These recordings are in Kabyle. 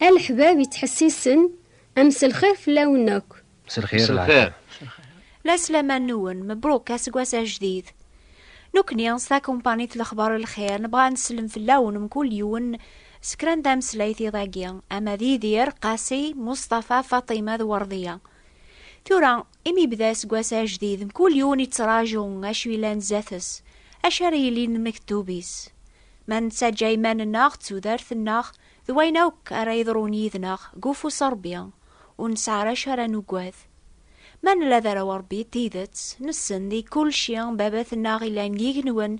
A leḥbab yettḥessisen, a mselxir fell-awen akk. Mselxir. Laslaman-nwen mebruk aseggas ajdid. Nekkni s takumpanit Lexbar Lxir nebɣa ad nsellem fell-awen mkul yiwen s kra n tameslayt iḍ-agi, ama d Yidir, Qasi, Mustafa, Faṭima d Werḍiya. Tura, imi yebda aseggas ajdid, mkul yiwen yettraǧu acu yellan zdat-s, acu ara yilin d mektub-is. Ma nettaǧǧa iman-nneɣ d tudert-nneɣ, D wayen akk ara yeḍrun yid-neɣ deg ufus n Ṛebbi, ur nesɛi ara acu ara nugad. Ma nella d arraw n Ṛebbi n tidet, nessen di kulci Baba-tneɣ yellan deg yigenwen,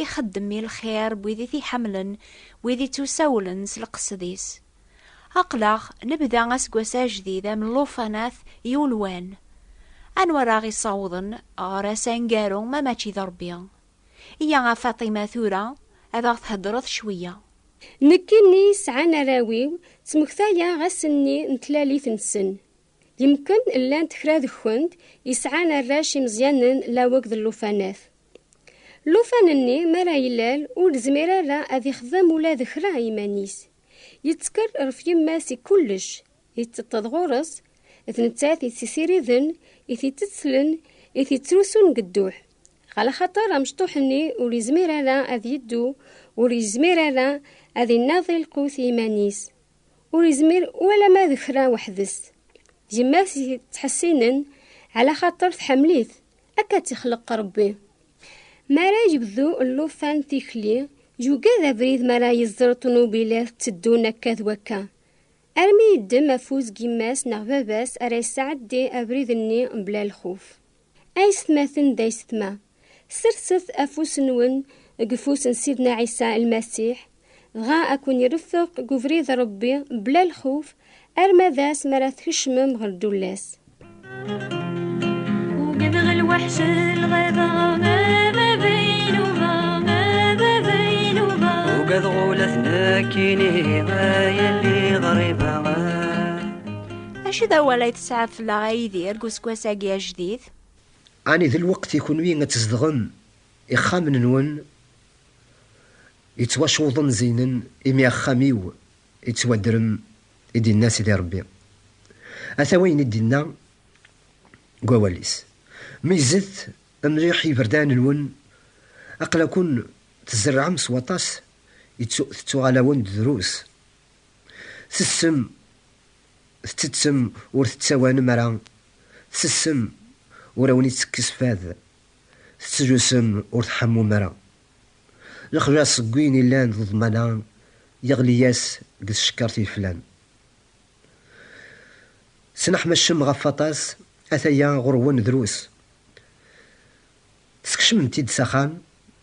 ixeddem i lxir n wid i t-iḥemmlen, n wid i ttusawlen s leqsed-is. Aql-aɣ nebda aseggas ajdid am llufanat yulwan. Anwa ara aɣ-isawḍen ɣer ass aneggaru ma mačči d Ṛebbi? Iyya a Faṭima tura ad aɣ-theddreḍ cweyya. Nekkini sɛan arraw-iw, ttmektayeɣ ass-nni n tlalit-nsen. Yemken llant kra deg-kent yesɛan arrac imeẓyanen laweg d llufanat. Llufan-nni mi ara ilal ur izmir ara ad ixdem ula d kra iman-is. Yettker ref yemma-s i kullec, Yetteṭṭeḍ ɣur-s, d nettat i tt-isiriden, i t-ittettlen, i t-ittrusun deg dduḥ. Ɣer lxaṭer amecṭuḥ-nni ur yezmir ara ad yeddu, ur yezmir ara ad innaḍi lqut i yiman-is, ur yezmir ualama d kra weḥd-s. Yemma-s yettḥessinen ɛla xaṭer tḥemmel-it, akka tt-ixleq Rebbi. Mi ara yebdu llufan tikli, yugad abrid mi ara yeẓer ṭunubilat tteddun akka d wakka. Armi yeddem afus n yemma-s neɣ baba-s ara yesɛeddi abrid-nni mebla lxuf. Aysetmaten d aysetma, serset afus-nwen deg ufus n Sidna Ɛisa Lmasiḥ, dɣa ad ken-ireffeq deg ubrid n Ṛebbi mebla lxuf, arma d ass mi ara tkecmem ɣer ddulla-s. Acu d awal ay tesɛa fell-aɣ ay Yidir deg useggas-agi ajdid? Ani d lweqt i kunwi ad tzedɣem ixxamen-nwen yettwacewḍen zeynen imi axxam-iw Ittwaddrem i d-inna Sidi Rebbi. Ata wayen i d-inna deg wawal-is, Meyyzet mliḥ iberdan-nwen, aql-akun tzerrɛem s waṭas, tettuɣal-awen-d drus. Tessem, tettettem ur tettawanem ara, tsessem ur awen-ittekkes fad, tettlusem ur tḥammum ara. Lexlaṣ seg win ilan d ḍmana yeɣli-yas deg tcekkart yeflan. Tesneḥmacem ɣef waṭas, ataya ɣur-wen drus. Teskecmem-t-id s axxam,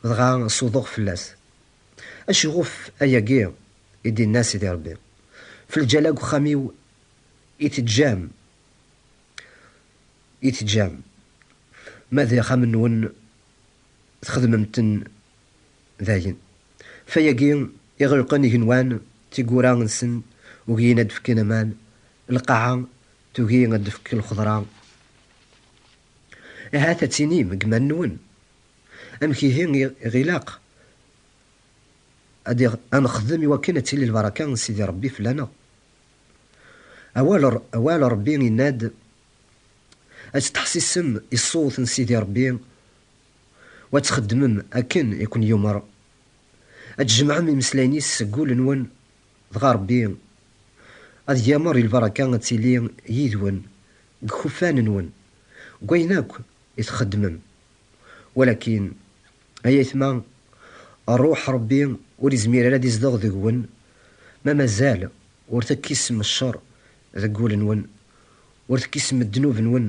dɣa s uḍuɣ fell-as. Acuɣef ayagi? i d-inna Sidi Rebbi. F lǧala deg uxxam-iw i teǧǧam, i teǧǧam. Ma d axxam-nwen. txedmem-ten dayen. Fayagi iɣelqen igenwan tiggura nsen ugin ad fken aman, lqaɛa tugi ad d-tefk lxeḍra. Ahat ad tinim deg iman-nwen, amek ihi i ɣ-ilaq ad nexdem iwakken ad tili lbaraka n Sidi Rebbi fell-aneɣ? Awal n Rebbi yenna-d ad tettḥessisem i ṣṣut n Sidi Ṛebbi u ad txeddmem akken i ken-yumeṛ, ad tjemɛem imeslayen-is seg wul-nwen, dɣa Ṛebbi ad yameṛ i lbaṛaka ad tili yid-wen deg ikuffan-nwen, deg wayen akk i txeddmem. Walakin, ay ayetma, Ṛṛuḥ Ṛebbi ur izmir ara ad izdeɣ deg-wen ma mazal ur tekkisem cceṛ Deg wul-nwen, ur tekkisem ddnub-nwen.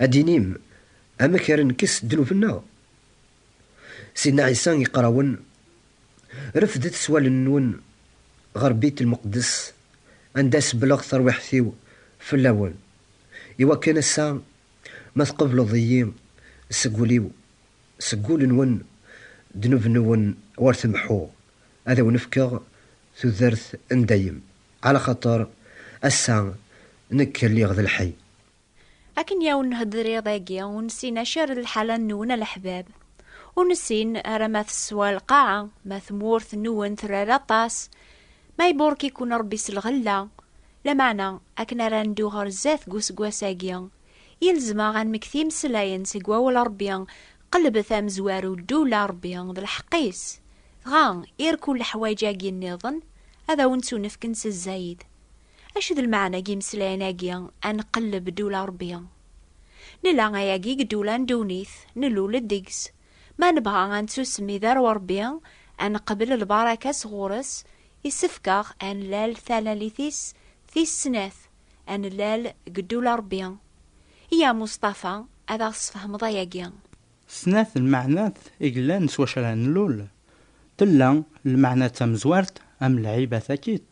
Ad d-tinim, Amek ara nekkes ddnub-nneɣ? Sidna Ɛisa iqqar-awen, Refdet s wallen-nwen ɣer Bit Lmeqdes, anda sebbleɣ tarwiḥt-iw fell-awen, i wakken ass-a ma tqebleḍ-iyi seg wul-iw, seg wul-nwen, ddnub-nwen ur temḥuɣ, ad awen-fkeɣ tudert n dayem, ɛla xaṭer ass-a nekk lliɣ d lḥey. Akken i awen-nhedder iḍ-agi, ur nessin acu ara d lḥala-nwen a leḥbab. Ur nessin ara ma teswa lqaɛa, ma tmurt-nwen terra-d aṭas, ma iburek-iken Rebbi s lɣella. Lameɛna, akken ara neddu ɣer zdat deg useggas-agi, ilzem-aɣ ad nmek timesllayen seg Wawal n Rebbi Qelbet amezwaru Ddula Rebbi d lḥeqq-is, dɣa irku leḥwayeǧ-agi nniḍen ad awen-ttunefken s zzayed. Acu d lmeɛna n yimeslayen-agi ad nqelleb Ddula Rebbi? Nella ayagi deg ddula n ddunit, nlul-d deg-s, ma nebɣa ad nettusem i darew Rebbi, ad neqbel lbaraka sɣur-s, isefk-aɣ ad nlal talalit-is tis snat, Anellal deg ddul a Rebbi. I a Mustafa ad aɣ-tesfehmeḍ ayagi. Snat lmeɛnat i yellan s wacu ara nlul. Tella lmeɛna d tamezwart am lɛiba takit,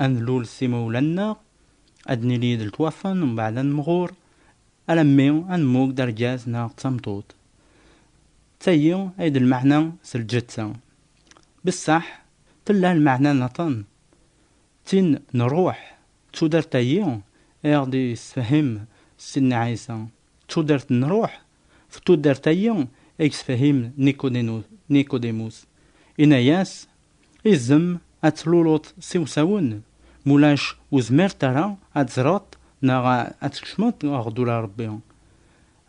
ad nlul s imawlan-nneɣ, ad d-nili id letwafen mbeɛd ad nemɣur, alammi ad nemmug d argaz neɣ d tameṭṭut. D tayi ay d lmeɛna s lǧetta. Bessaḥ tella lmeɛna niḍen, d tin n ṛṛuḥ, D tudert-agi i aɣ-d-yessefhem Sidna Ɛisa, d tudert n ṛṛuḥ, d tudert-agi i yessefhem Nikodémus. Inna-yas, Izem ad tluleḍ s iwsawen, mulac ur zmiret ara ad teẓreḍ neɣ ad tkecmeḍ ɣer ddula n Ṛebbi.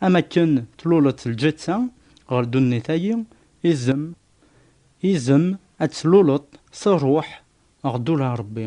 Am akken tluleḍ lǧetta ɣer ddunit-agi, izem, izem ad tluleḍ s ṛṛuḥ ɣer ddula n Ṛebbi.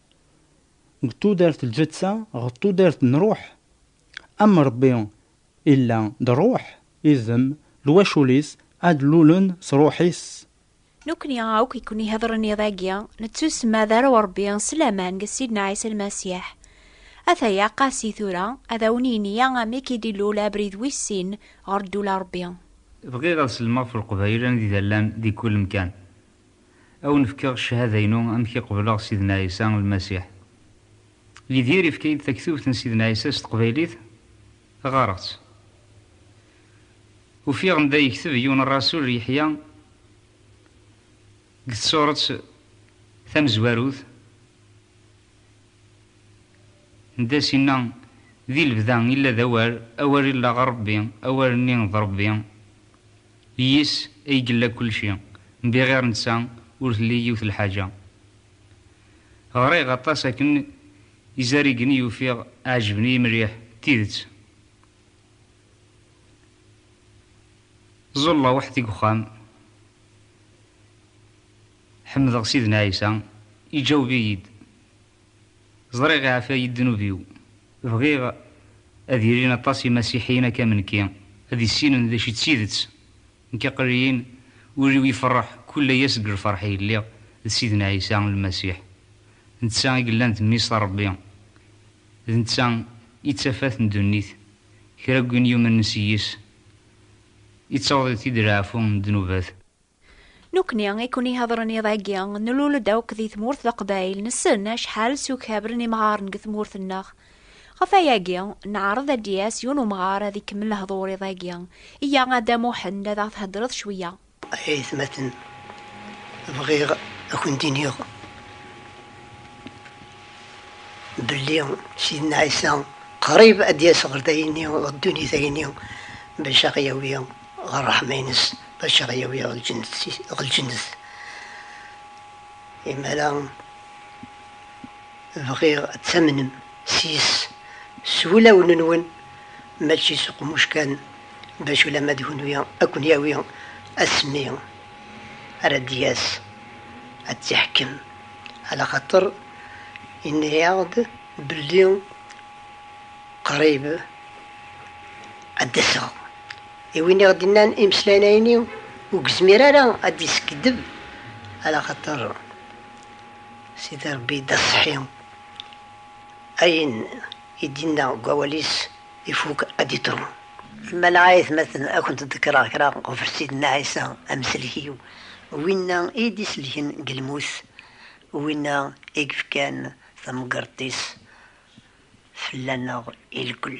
deg tudert lǧetta ɣer tudert n ruḥ, am Rebbi illa d ruḥ, idem, lwacul-is ad lulen s ruḥ-is. Nekni akk i ken-ihedren iḍ-agi, nettusma d arraw n Rebbi s laman deg Sidna Ɛisa Lmasiḥ. Ataya Qasi tura ad awen-yini amek i d-ilul abrid wis sin ɣer ddula n Rebbi. Bɣiɣ ad sellmeɣ f Leqbayel anida llan di kul mkan. A wen-fkeɣ cchada-inu amek i qebleɣ Sidna Ɛisa, Lmasiḥ. Yidir ifka-yi-d taktubt n Sidna Ɛisa s teqbaylit, ɣareɣ-tt. Ufiɣ anda yekteb yiwen rrasul Yeḥya deg tsuret tamezwarut, n das inna, Di lebda illa d Awal, Awal illaɣ Rebbi, Awal-nni d Rebbi. Yis ay yella kulci, mbi ɣir netta ur telli yiwet lḥaǧa. Ɣriɣ aṭas akken izarigen i ufiɣ ɛejben-iyi mliḥ d tidet. Ẓẓulleɣ weḥd-i deg uxxam, ḥemdeɣ Sidna Ɛisa, iǧaweb-iyi-d. Ẓriɣ iɛfa-yi ddnub-iw. Bɣiɣ ad ilin aṭas imasiḥiyen akka am nekki, ad issinen d acu i d tidet. Nekk aql-iyin, ul-iw ifeṛṛeḥ kull aya seg lfeṛḥ i lliɣ d Sidna Ɛisa Lmasiḥ. D netta i yellan d Mmi-s n Ṛebbi. D netta i d tafat n ddunit. Kra n win yumen s yis, ittaweḍ-it-id leɛfu n ddnubat. Nukni i kun-ihedren iḍ-agi, nlul-d akk di tmurt d aqbayel, nessen acḥal sukhabren imɣaren deg tmurt-nneɣ. Ɣef wayagi, neɛreḍ ad d-yas yiwen umɣar ad ikemmel lehdur iḍ-agi. Yya a Dda Muḥend ad aɣ-thedreḍ cwiya. A yatmaten, bɣiɣ a kent-iniɣ belli Sidna Ɛisa qrib ad d-yas ɣer tayni, ɣer ddunit ayni, bac a ɣ-yawi. Ɣer ṛṛeḥma-ines, bac ara yawi ɣer lǧennet. Imara bɣiɣ ad tamnem sys s wulawen-nwen, mačči s uqmuc kan, bac ulamma d kunwi ad ken-yawi asmi ara d-yas ad tt-iḥkem. Ala xaṭer yenna-yaɣ-d belli qrib ad d-aseɣ. I win i ɣ-d-innan imeslayen-ayni ur yezmir ara ad d-yeskeddeb ala xaṭer Sidi Rebbi d aṣeḥḥi, ayen i d-inna deg wawal-is ifuk ad d-iḍru. Lemana a aytmaten a kent-ḍekkreɣ kra ɣef Sidna Ɛisa amsellek-iw, winna i yi-d-isellken deg lmut, winna i yefkan tamgerḍt-is fell-aneɣ ireggel.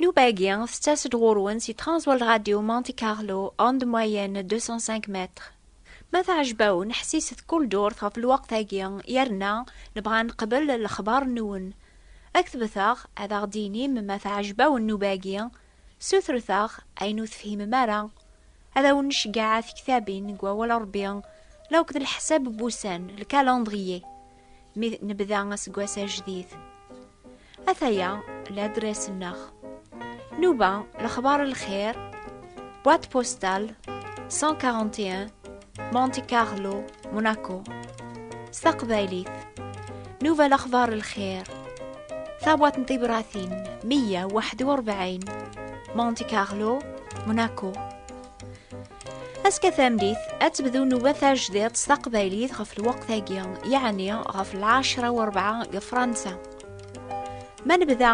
Nnuba-agi tettas-d ɣur-wen si Transworld Radio Monte Carlo, ondes moyennes 205 mètres. Ma teɛjeb-awen, ḥsiset kull durt ɣef lweqt-agi yerna nebɣa ad neqbel lexbar-nwen. Ad ketbet-aɣ, ad aɣ-d-tinim ma teɛjeb-awen nnuba-agi, sutret-aɣ ayen ur tefhimem ara. Ad awen-nceggeɛ a tektabin deg wawal Rebbi, la akked leḥsab n wussan, le calendrier. mi nebda aseggas ajdid. Ataya ladres-nneɣ. Nuba lexbar lxir, boîte postale 141 Monte Carlo, Monaco. S taqbaylit, Nuba lexbar lxir, tabwat n tibratin 141 Monte Carlo, Monaco. Aska tameddit, ad tebdu nnuba tajdiṭ s taqbaylit ɣef lweqt-agi, yeɛni ɣef lɛecra u rebɛa deg Fransa. Ma nebda,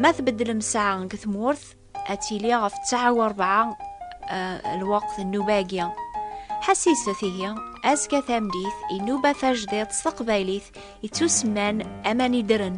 ma tbeddlem ssaɛa deg tmurt, ad tili ɣef ttaɛa u rebɛa eh, lweqt nnuba-agi. Ḥessiset ihi, azekka tameddit, inuba tajdiṭ s taqbaylit, ittusemman aman idren.